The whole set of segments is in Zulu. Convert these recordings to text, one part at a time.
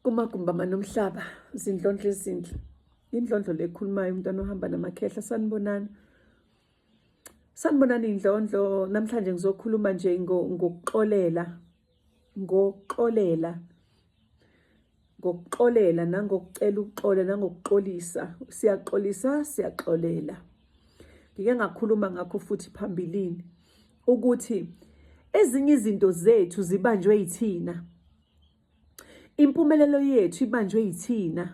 kumagumbi amanomhlaba zindlondlo ezinhle indlondlo lekhulumayo umntwana ohamba namakhehla sanibonani sanibonani indlondlo namhlanje ngizokhuluma nje ngokuxolela ngokuxolela ngokuxolela nangokucela uxole nangokuxolisa siyaxolisa siyaxolela ngike ngakhuluma ngakho futhi phambilini ukuthi ezinye izinto zethu zibanjwe yithina impumelelo yethu ibanjwe yithina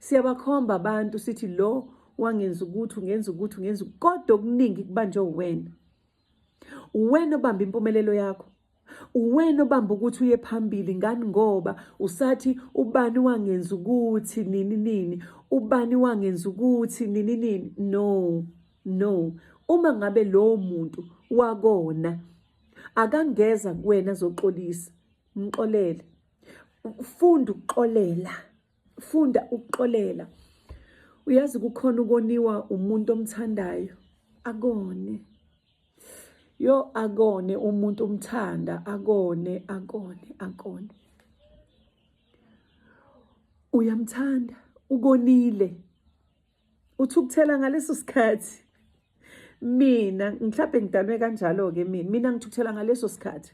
siyabakhomba abantu sithi lo wangenza ukuthi ungenza ukuthi ungenza kodwa okuningi kubanjwe uwena uwena obamba impumelelo yakho uwena obamba ukuthi uye phambili ngani ngoba usathi ubani wangenza ukuthi nini nini ubani wangenza ukuthi nini nini no no uma ngabe lowo muntu wakona akangeza kuwena zoxolisa mxolele funda ukuxolela funda ukuxolela uyazi kukhona ukoniwa umuntu omthandayo akone yo akone umuntu umthanda akone akone akone uyamthanda ukonile uthukuthela ngaleso sikhathi mina mhlawumbe ngidalwe kanjalo-ke mina mina ngithukuthela ngaleso sikhathi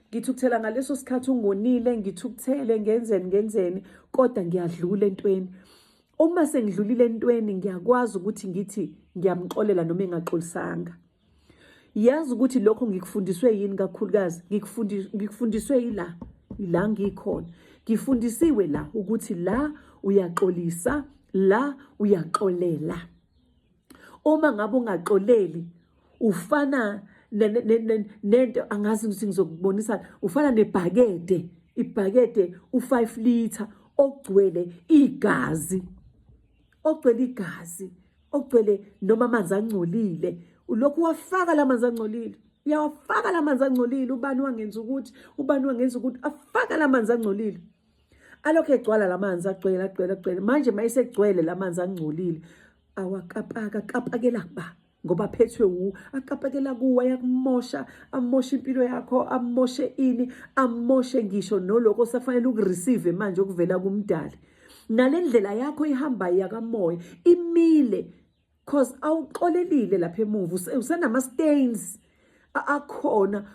ngithukuthela ngaleso sikhathi ungonile ngithukuthele ngenzeni ngenzeni kodwa ngiyadlula entweni uma sengidlulile entweni ngiyakwazi ukuthi ngithi ngiyamxolela noma engaxolisanga yazi ukuthi lokho ngikufundiswe yini kakhulukazi ngikufundiswe yila la ngikhona ngifundisiwe la ukuthi la uyaxolisa la uyaxolela uma ngabe ungaxoleli ufana nento angazi ukuthi ngizokubonisa ufana nebhakede ibhakede u5 liter ogcwele igazi ogcwele igazi okugcwele noma amanzi angcolile ulokhu wafaka la manzi angcolile uyawafaka la manzi angcolile ubani wangenza ukuthi ubani wangenza ukuthi afaka la manzi angcolile alokhu egcwala la manzi agcwele agcwele agcwele manje uma esegcwele la manzi angcolile awakapaka kapakela kuba ngoba phethwe wu akapakela kuwe ayakumosha amoshe impilo yakho amoshe ini amoshe ngisho noloko osafanele ukureceive manje okuvela kumdali nale ndlela yakho ihambayo yakamoya imile cause awuxolelile lapha emuva usenama-stains akhona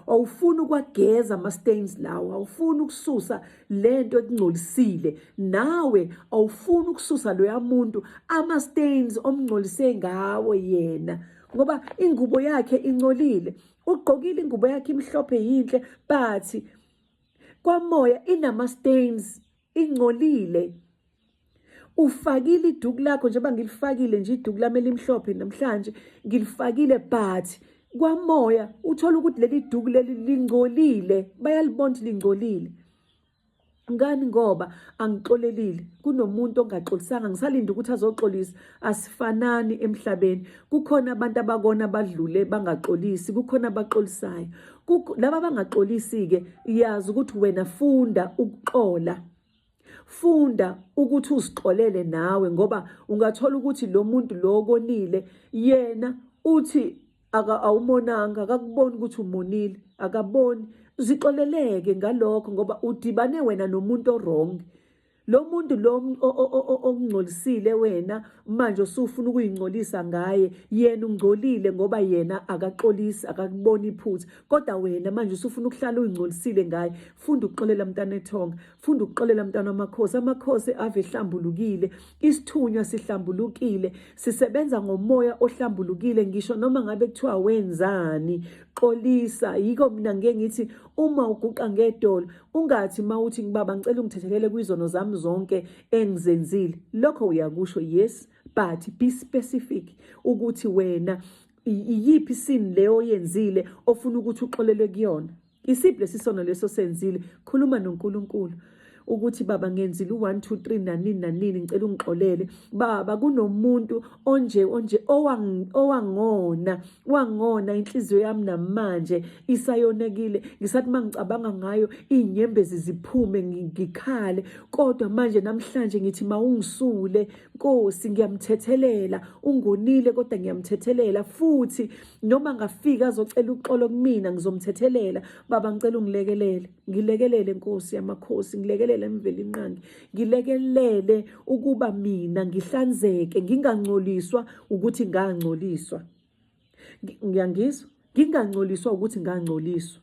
awufuni ukwageza ama-stains lawo awufuni ukususa le nto ekungcolisile nawe awufuni ukususa loya muntu ama-stains omngcolise ngawo yena ngoba ingubo yakhe ingcolile ugqokile ingubo yakhe imhlophe yinhle but kwamoya inama stains ingcolile ufakile iduku lakho njengoba ngilifakile nje iduku lami elimhlophe namhlanje ngilifakile but kwamoya uthola ukuthi leli duku leli lingcolile bayalibona ukuthi lingcolile ngani ngoba angixolelile kunomuntu ongaxolisanga ngisalinde ukuthi azoxolisa asifanani emhlabeni kukhona abantu abakona badlule bangaxolisi kukhona abaxolisayo laba bangaxolisi-ke yazi ukuthi wena funda ukuxola funda ukuthi uzixolele nawe ngoba ungathola ukuthi lo muntu lo konile yena uthi awumonanga akakuboni ukuthi umonile akaboni zixoleleke ngalokho ngoba udibane wena nomuntu orongi lo muntu lo okungcolisile wena manje usufuna ukuyingcolisa ngaye yena ungcolile ngoba yena akaxolisi akakuboni iphutha kodwa wena manje usufuna ukuhlala uyingcolisile ngaye funda ukuxolela mntana ethonga funda ukuxolela mntana amakhosi amakhosi ave ehlambulukile isithunywa sihlambulukile sisebenza ngomoya ohlambulukile ngisho noma ngabe kuthiwa wenzani xolisa yiko mina ngeke ngithi uma uguqa ngedolo Ungathi mawuthi ngibaba ngicela ungithethelele kwizono zami zonke engizenzile. Lokho uyakusho yes but be specific ukuthi wena iyiphi sin leyo yenzile ofuna ukuthi uxolele kuyona. Isiphi lesisono leso senzile? Khuluma noNkulunkulu ukuthi baba ngenzile u1 2 3 nanini nanini ngicela ungixolele baba kunomuntu onje onje owangona wangona inhliziyo yami namanje isayonekile ngisathi mangicabanga ngayo inyembezi ziphume ngikhale kodwa manje namhlanje ngithi mawungisule Nkosi ngiyamthethelela ungonile kodwa ngiyamthethelela futhi noma ngafika azocela uxolo kumina ngizomthethelela baba ngicela ungilekelele ngilekelele Nkosi yamakhosi ngilekelele emvelinqangi ngilekelele ukuba mina ngihlanzeke ngingangcoliswa ukuthi ngangcoliswa ngiyangizwa ngingangcoliswa ukuthi ngangcoliswa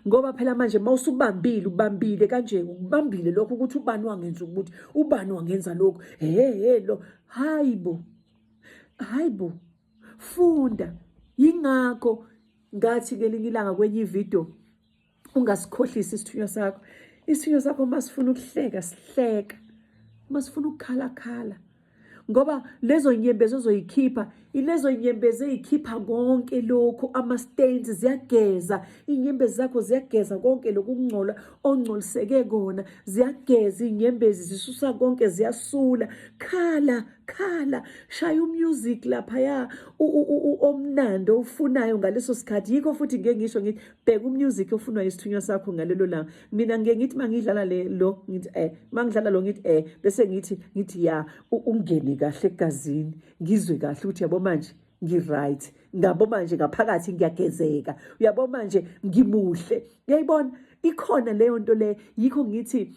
ngoba phela manje mawusubambile ubambile kanje ubambile lokho ukuthi ubani wangenza ukuthi ubani wangenza lokho hehe lo hayibo hayibo funda yingakho ngathi ngelinye ilanga kwenye ividiyo ungasikhohlisi isithunywa sakho isithunywa sakho uma sifuna ukuhleka sihleka uma sifuna ukukhalakhala ngoba lezo nyembezi ozoyikhipha ilezo nyembezi eyikhipha konke lokhu ama-stains ziyageza iy'nyembezi zakho ziyageza konke lokhu ukungcola ongcoliseke kona ziyageza iy'nyembezi zisusa konke ziyasula khala khala shaya umusic laphaya omnandi owufunayo ngaleso sikhathi yikho futhi ngeke ngisho ngithi bheka umusic ofunwa isithunywa sakho ngalelo langa mina ngike ngithi mangidlala le lo ngithi eh mangidlala lo ngithi eh bese ngithi ngithi ya ungene kahle egazini ngizwe kahle ukuthi yabo manje ngi-right ngabo manje ngaphakathi ngiyagezeka uyabo manje ngimuhle uyayibona ikhona leyo nto le yikho ngithi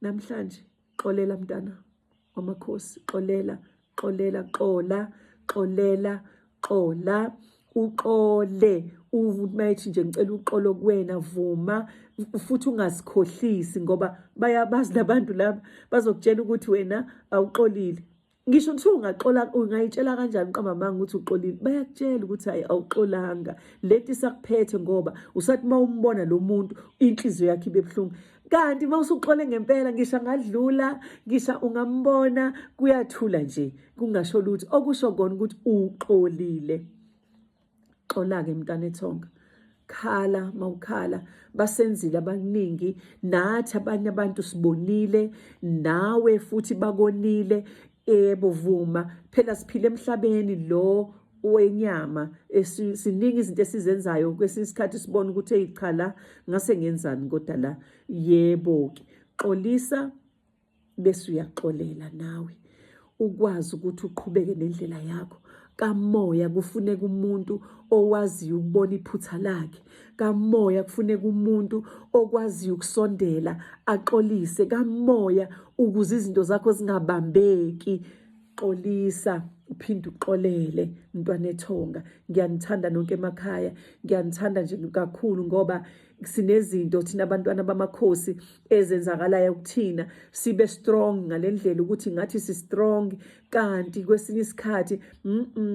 namhlanje xolela mntana wamakhosi xolela xolela xola xolela xola uxole umayithi nje ngicela uxolo kuwena vuma futhi ungazikhohlisi ngoba bayabazi labantu laba bazokutshela ukuthi wena awuxolile ngisho kuthiwa ungaxola ungayitshela kanjani qamamanga ukuthi uxolile bayakutshela ukuthi hayi awuxolanga lento isakuphethe ngoba usathi uma umbona lo muntu inhliziyo yakhe ibe buhlungu kanti uma usuxole ngempela ngisho angadlula ngisho ungambona kuyathula nje kungasho lutho okusho kona ukuthi uxolile xola-ke mntanethonga khala mawukhala basenzile abaningi nathi abanye abantu sibonile nawe futhi bakonile ebo vuma phela siphile emhlabeni lo wenyama siningi izinto esizenzayo kwesinye isikhathi sibona ukuthi eyi cha la ngase ngenzani kodwa la yebo-ke xolisa bese uyaxolela nawe ukwazi ukuthi uqhubeke nendlela yakho kamoya kufuneka umuntu owaziyo ukubona iphutha lakhe kamoya kufuneka umuntu okwaziyo ukusondela axolise kamoya ukuze izinto zakho zingabambeki xolisa uphinde uxolele mntwana ethonga ngiyanithanda nonke emakhaya ngiyanithanda nje kakhulu ngoba sinezinto thina abantwana bamakhosi ezenzakalayo kuthina sibe strong ngalendlela ukuthi ngathi si strong kanti kwesinye isikhathi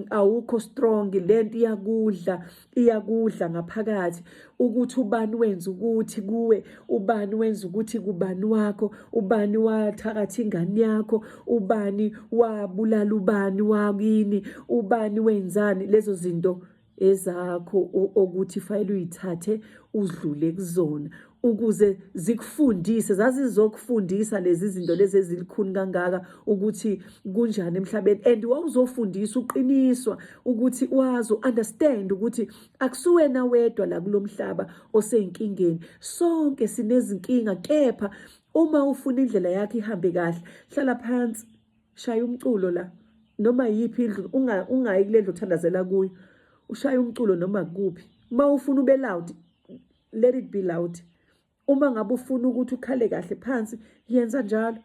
awukho strong lento iyakudla iyakudla ngaphakathi ukuthi ubani wenza ukuthi kuwe ubani wenza ukuthi kubani wakho ubani wathakathi ingane yakho ubani wabulala ubani wakini ubani wenzani lezo zinto ezakho okuthi fayile uyithathe udlule kuzona ukuze zikufundise zazizokufundisa lezi zinto lezi ezilikhuni kangaka ukuthi kunjani emhlabeni and wawuzofundisa uqiniswa ukuthi wazi understand ukuthi akusuwena wedwa la kulomhlaba oseyinkingeni sonke sinezinkinga kepha uma ufuna indlela yakhe ihambe kahle hlala phansi shaya umculo la noma yiphi indlu ungayi kule ndlu othandazela kuyo ushaya umculo noma kuphi uma ufuna ube loud let it be loud uma ngabe ufuna ukuthi ukhale kahle phansi yenza njalo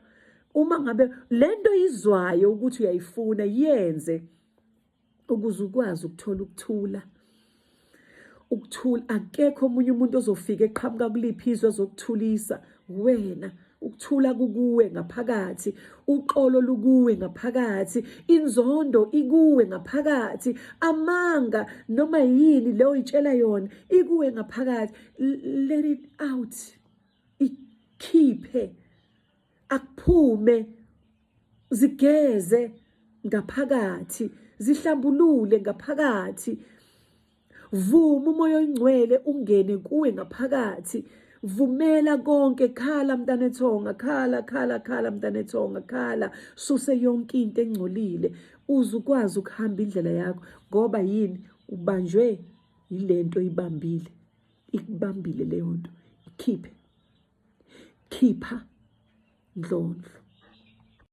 uma ngabe lento izwayo ukuthi uyayifuna yenze ukuze ukwazi ukuthola ukuthula ukuthula akekho omunye umuntu ozofika eqhamuka kuliphi izwe zokuthulisa wena ukuthula kukuwe ngaphakathi uqolo lukuwe ngaphakathi inzondo ikuwe ngaphakathi amanga noma yini leyo itshela yona ikuwe ngaphakathi let it out ikhiphe akuphume zigeze ngaphakathi zihlambulule ngaphakathi vuma umoya oyingcwele ungene kuwe ngaphakathi vumela konke khala mntanethonga khala khala khala mntanethonga khala suse yonke into engcolile uze ukwazi ukuhamba indlela yakho ngoba yini ubanjwe yilento ibambile ikubambile leyo nto ikhiphe khipha ndlondlo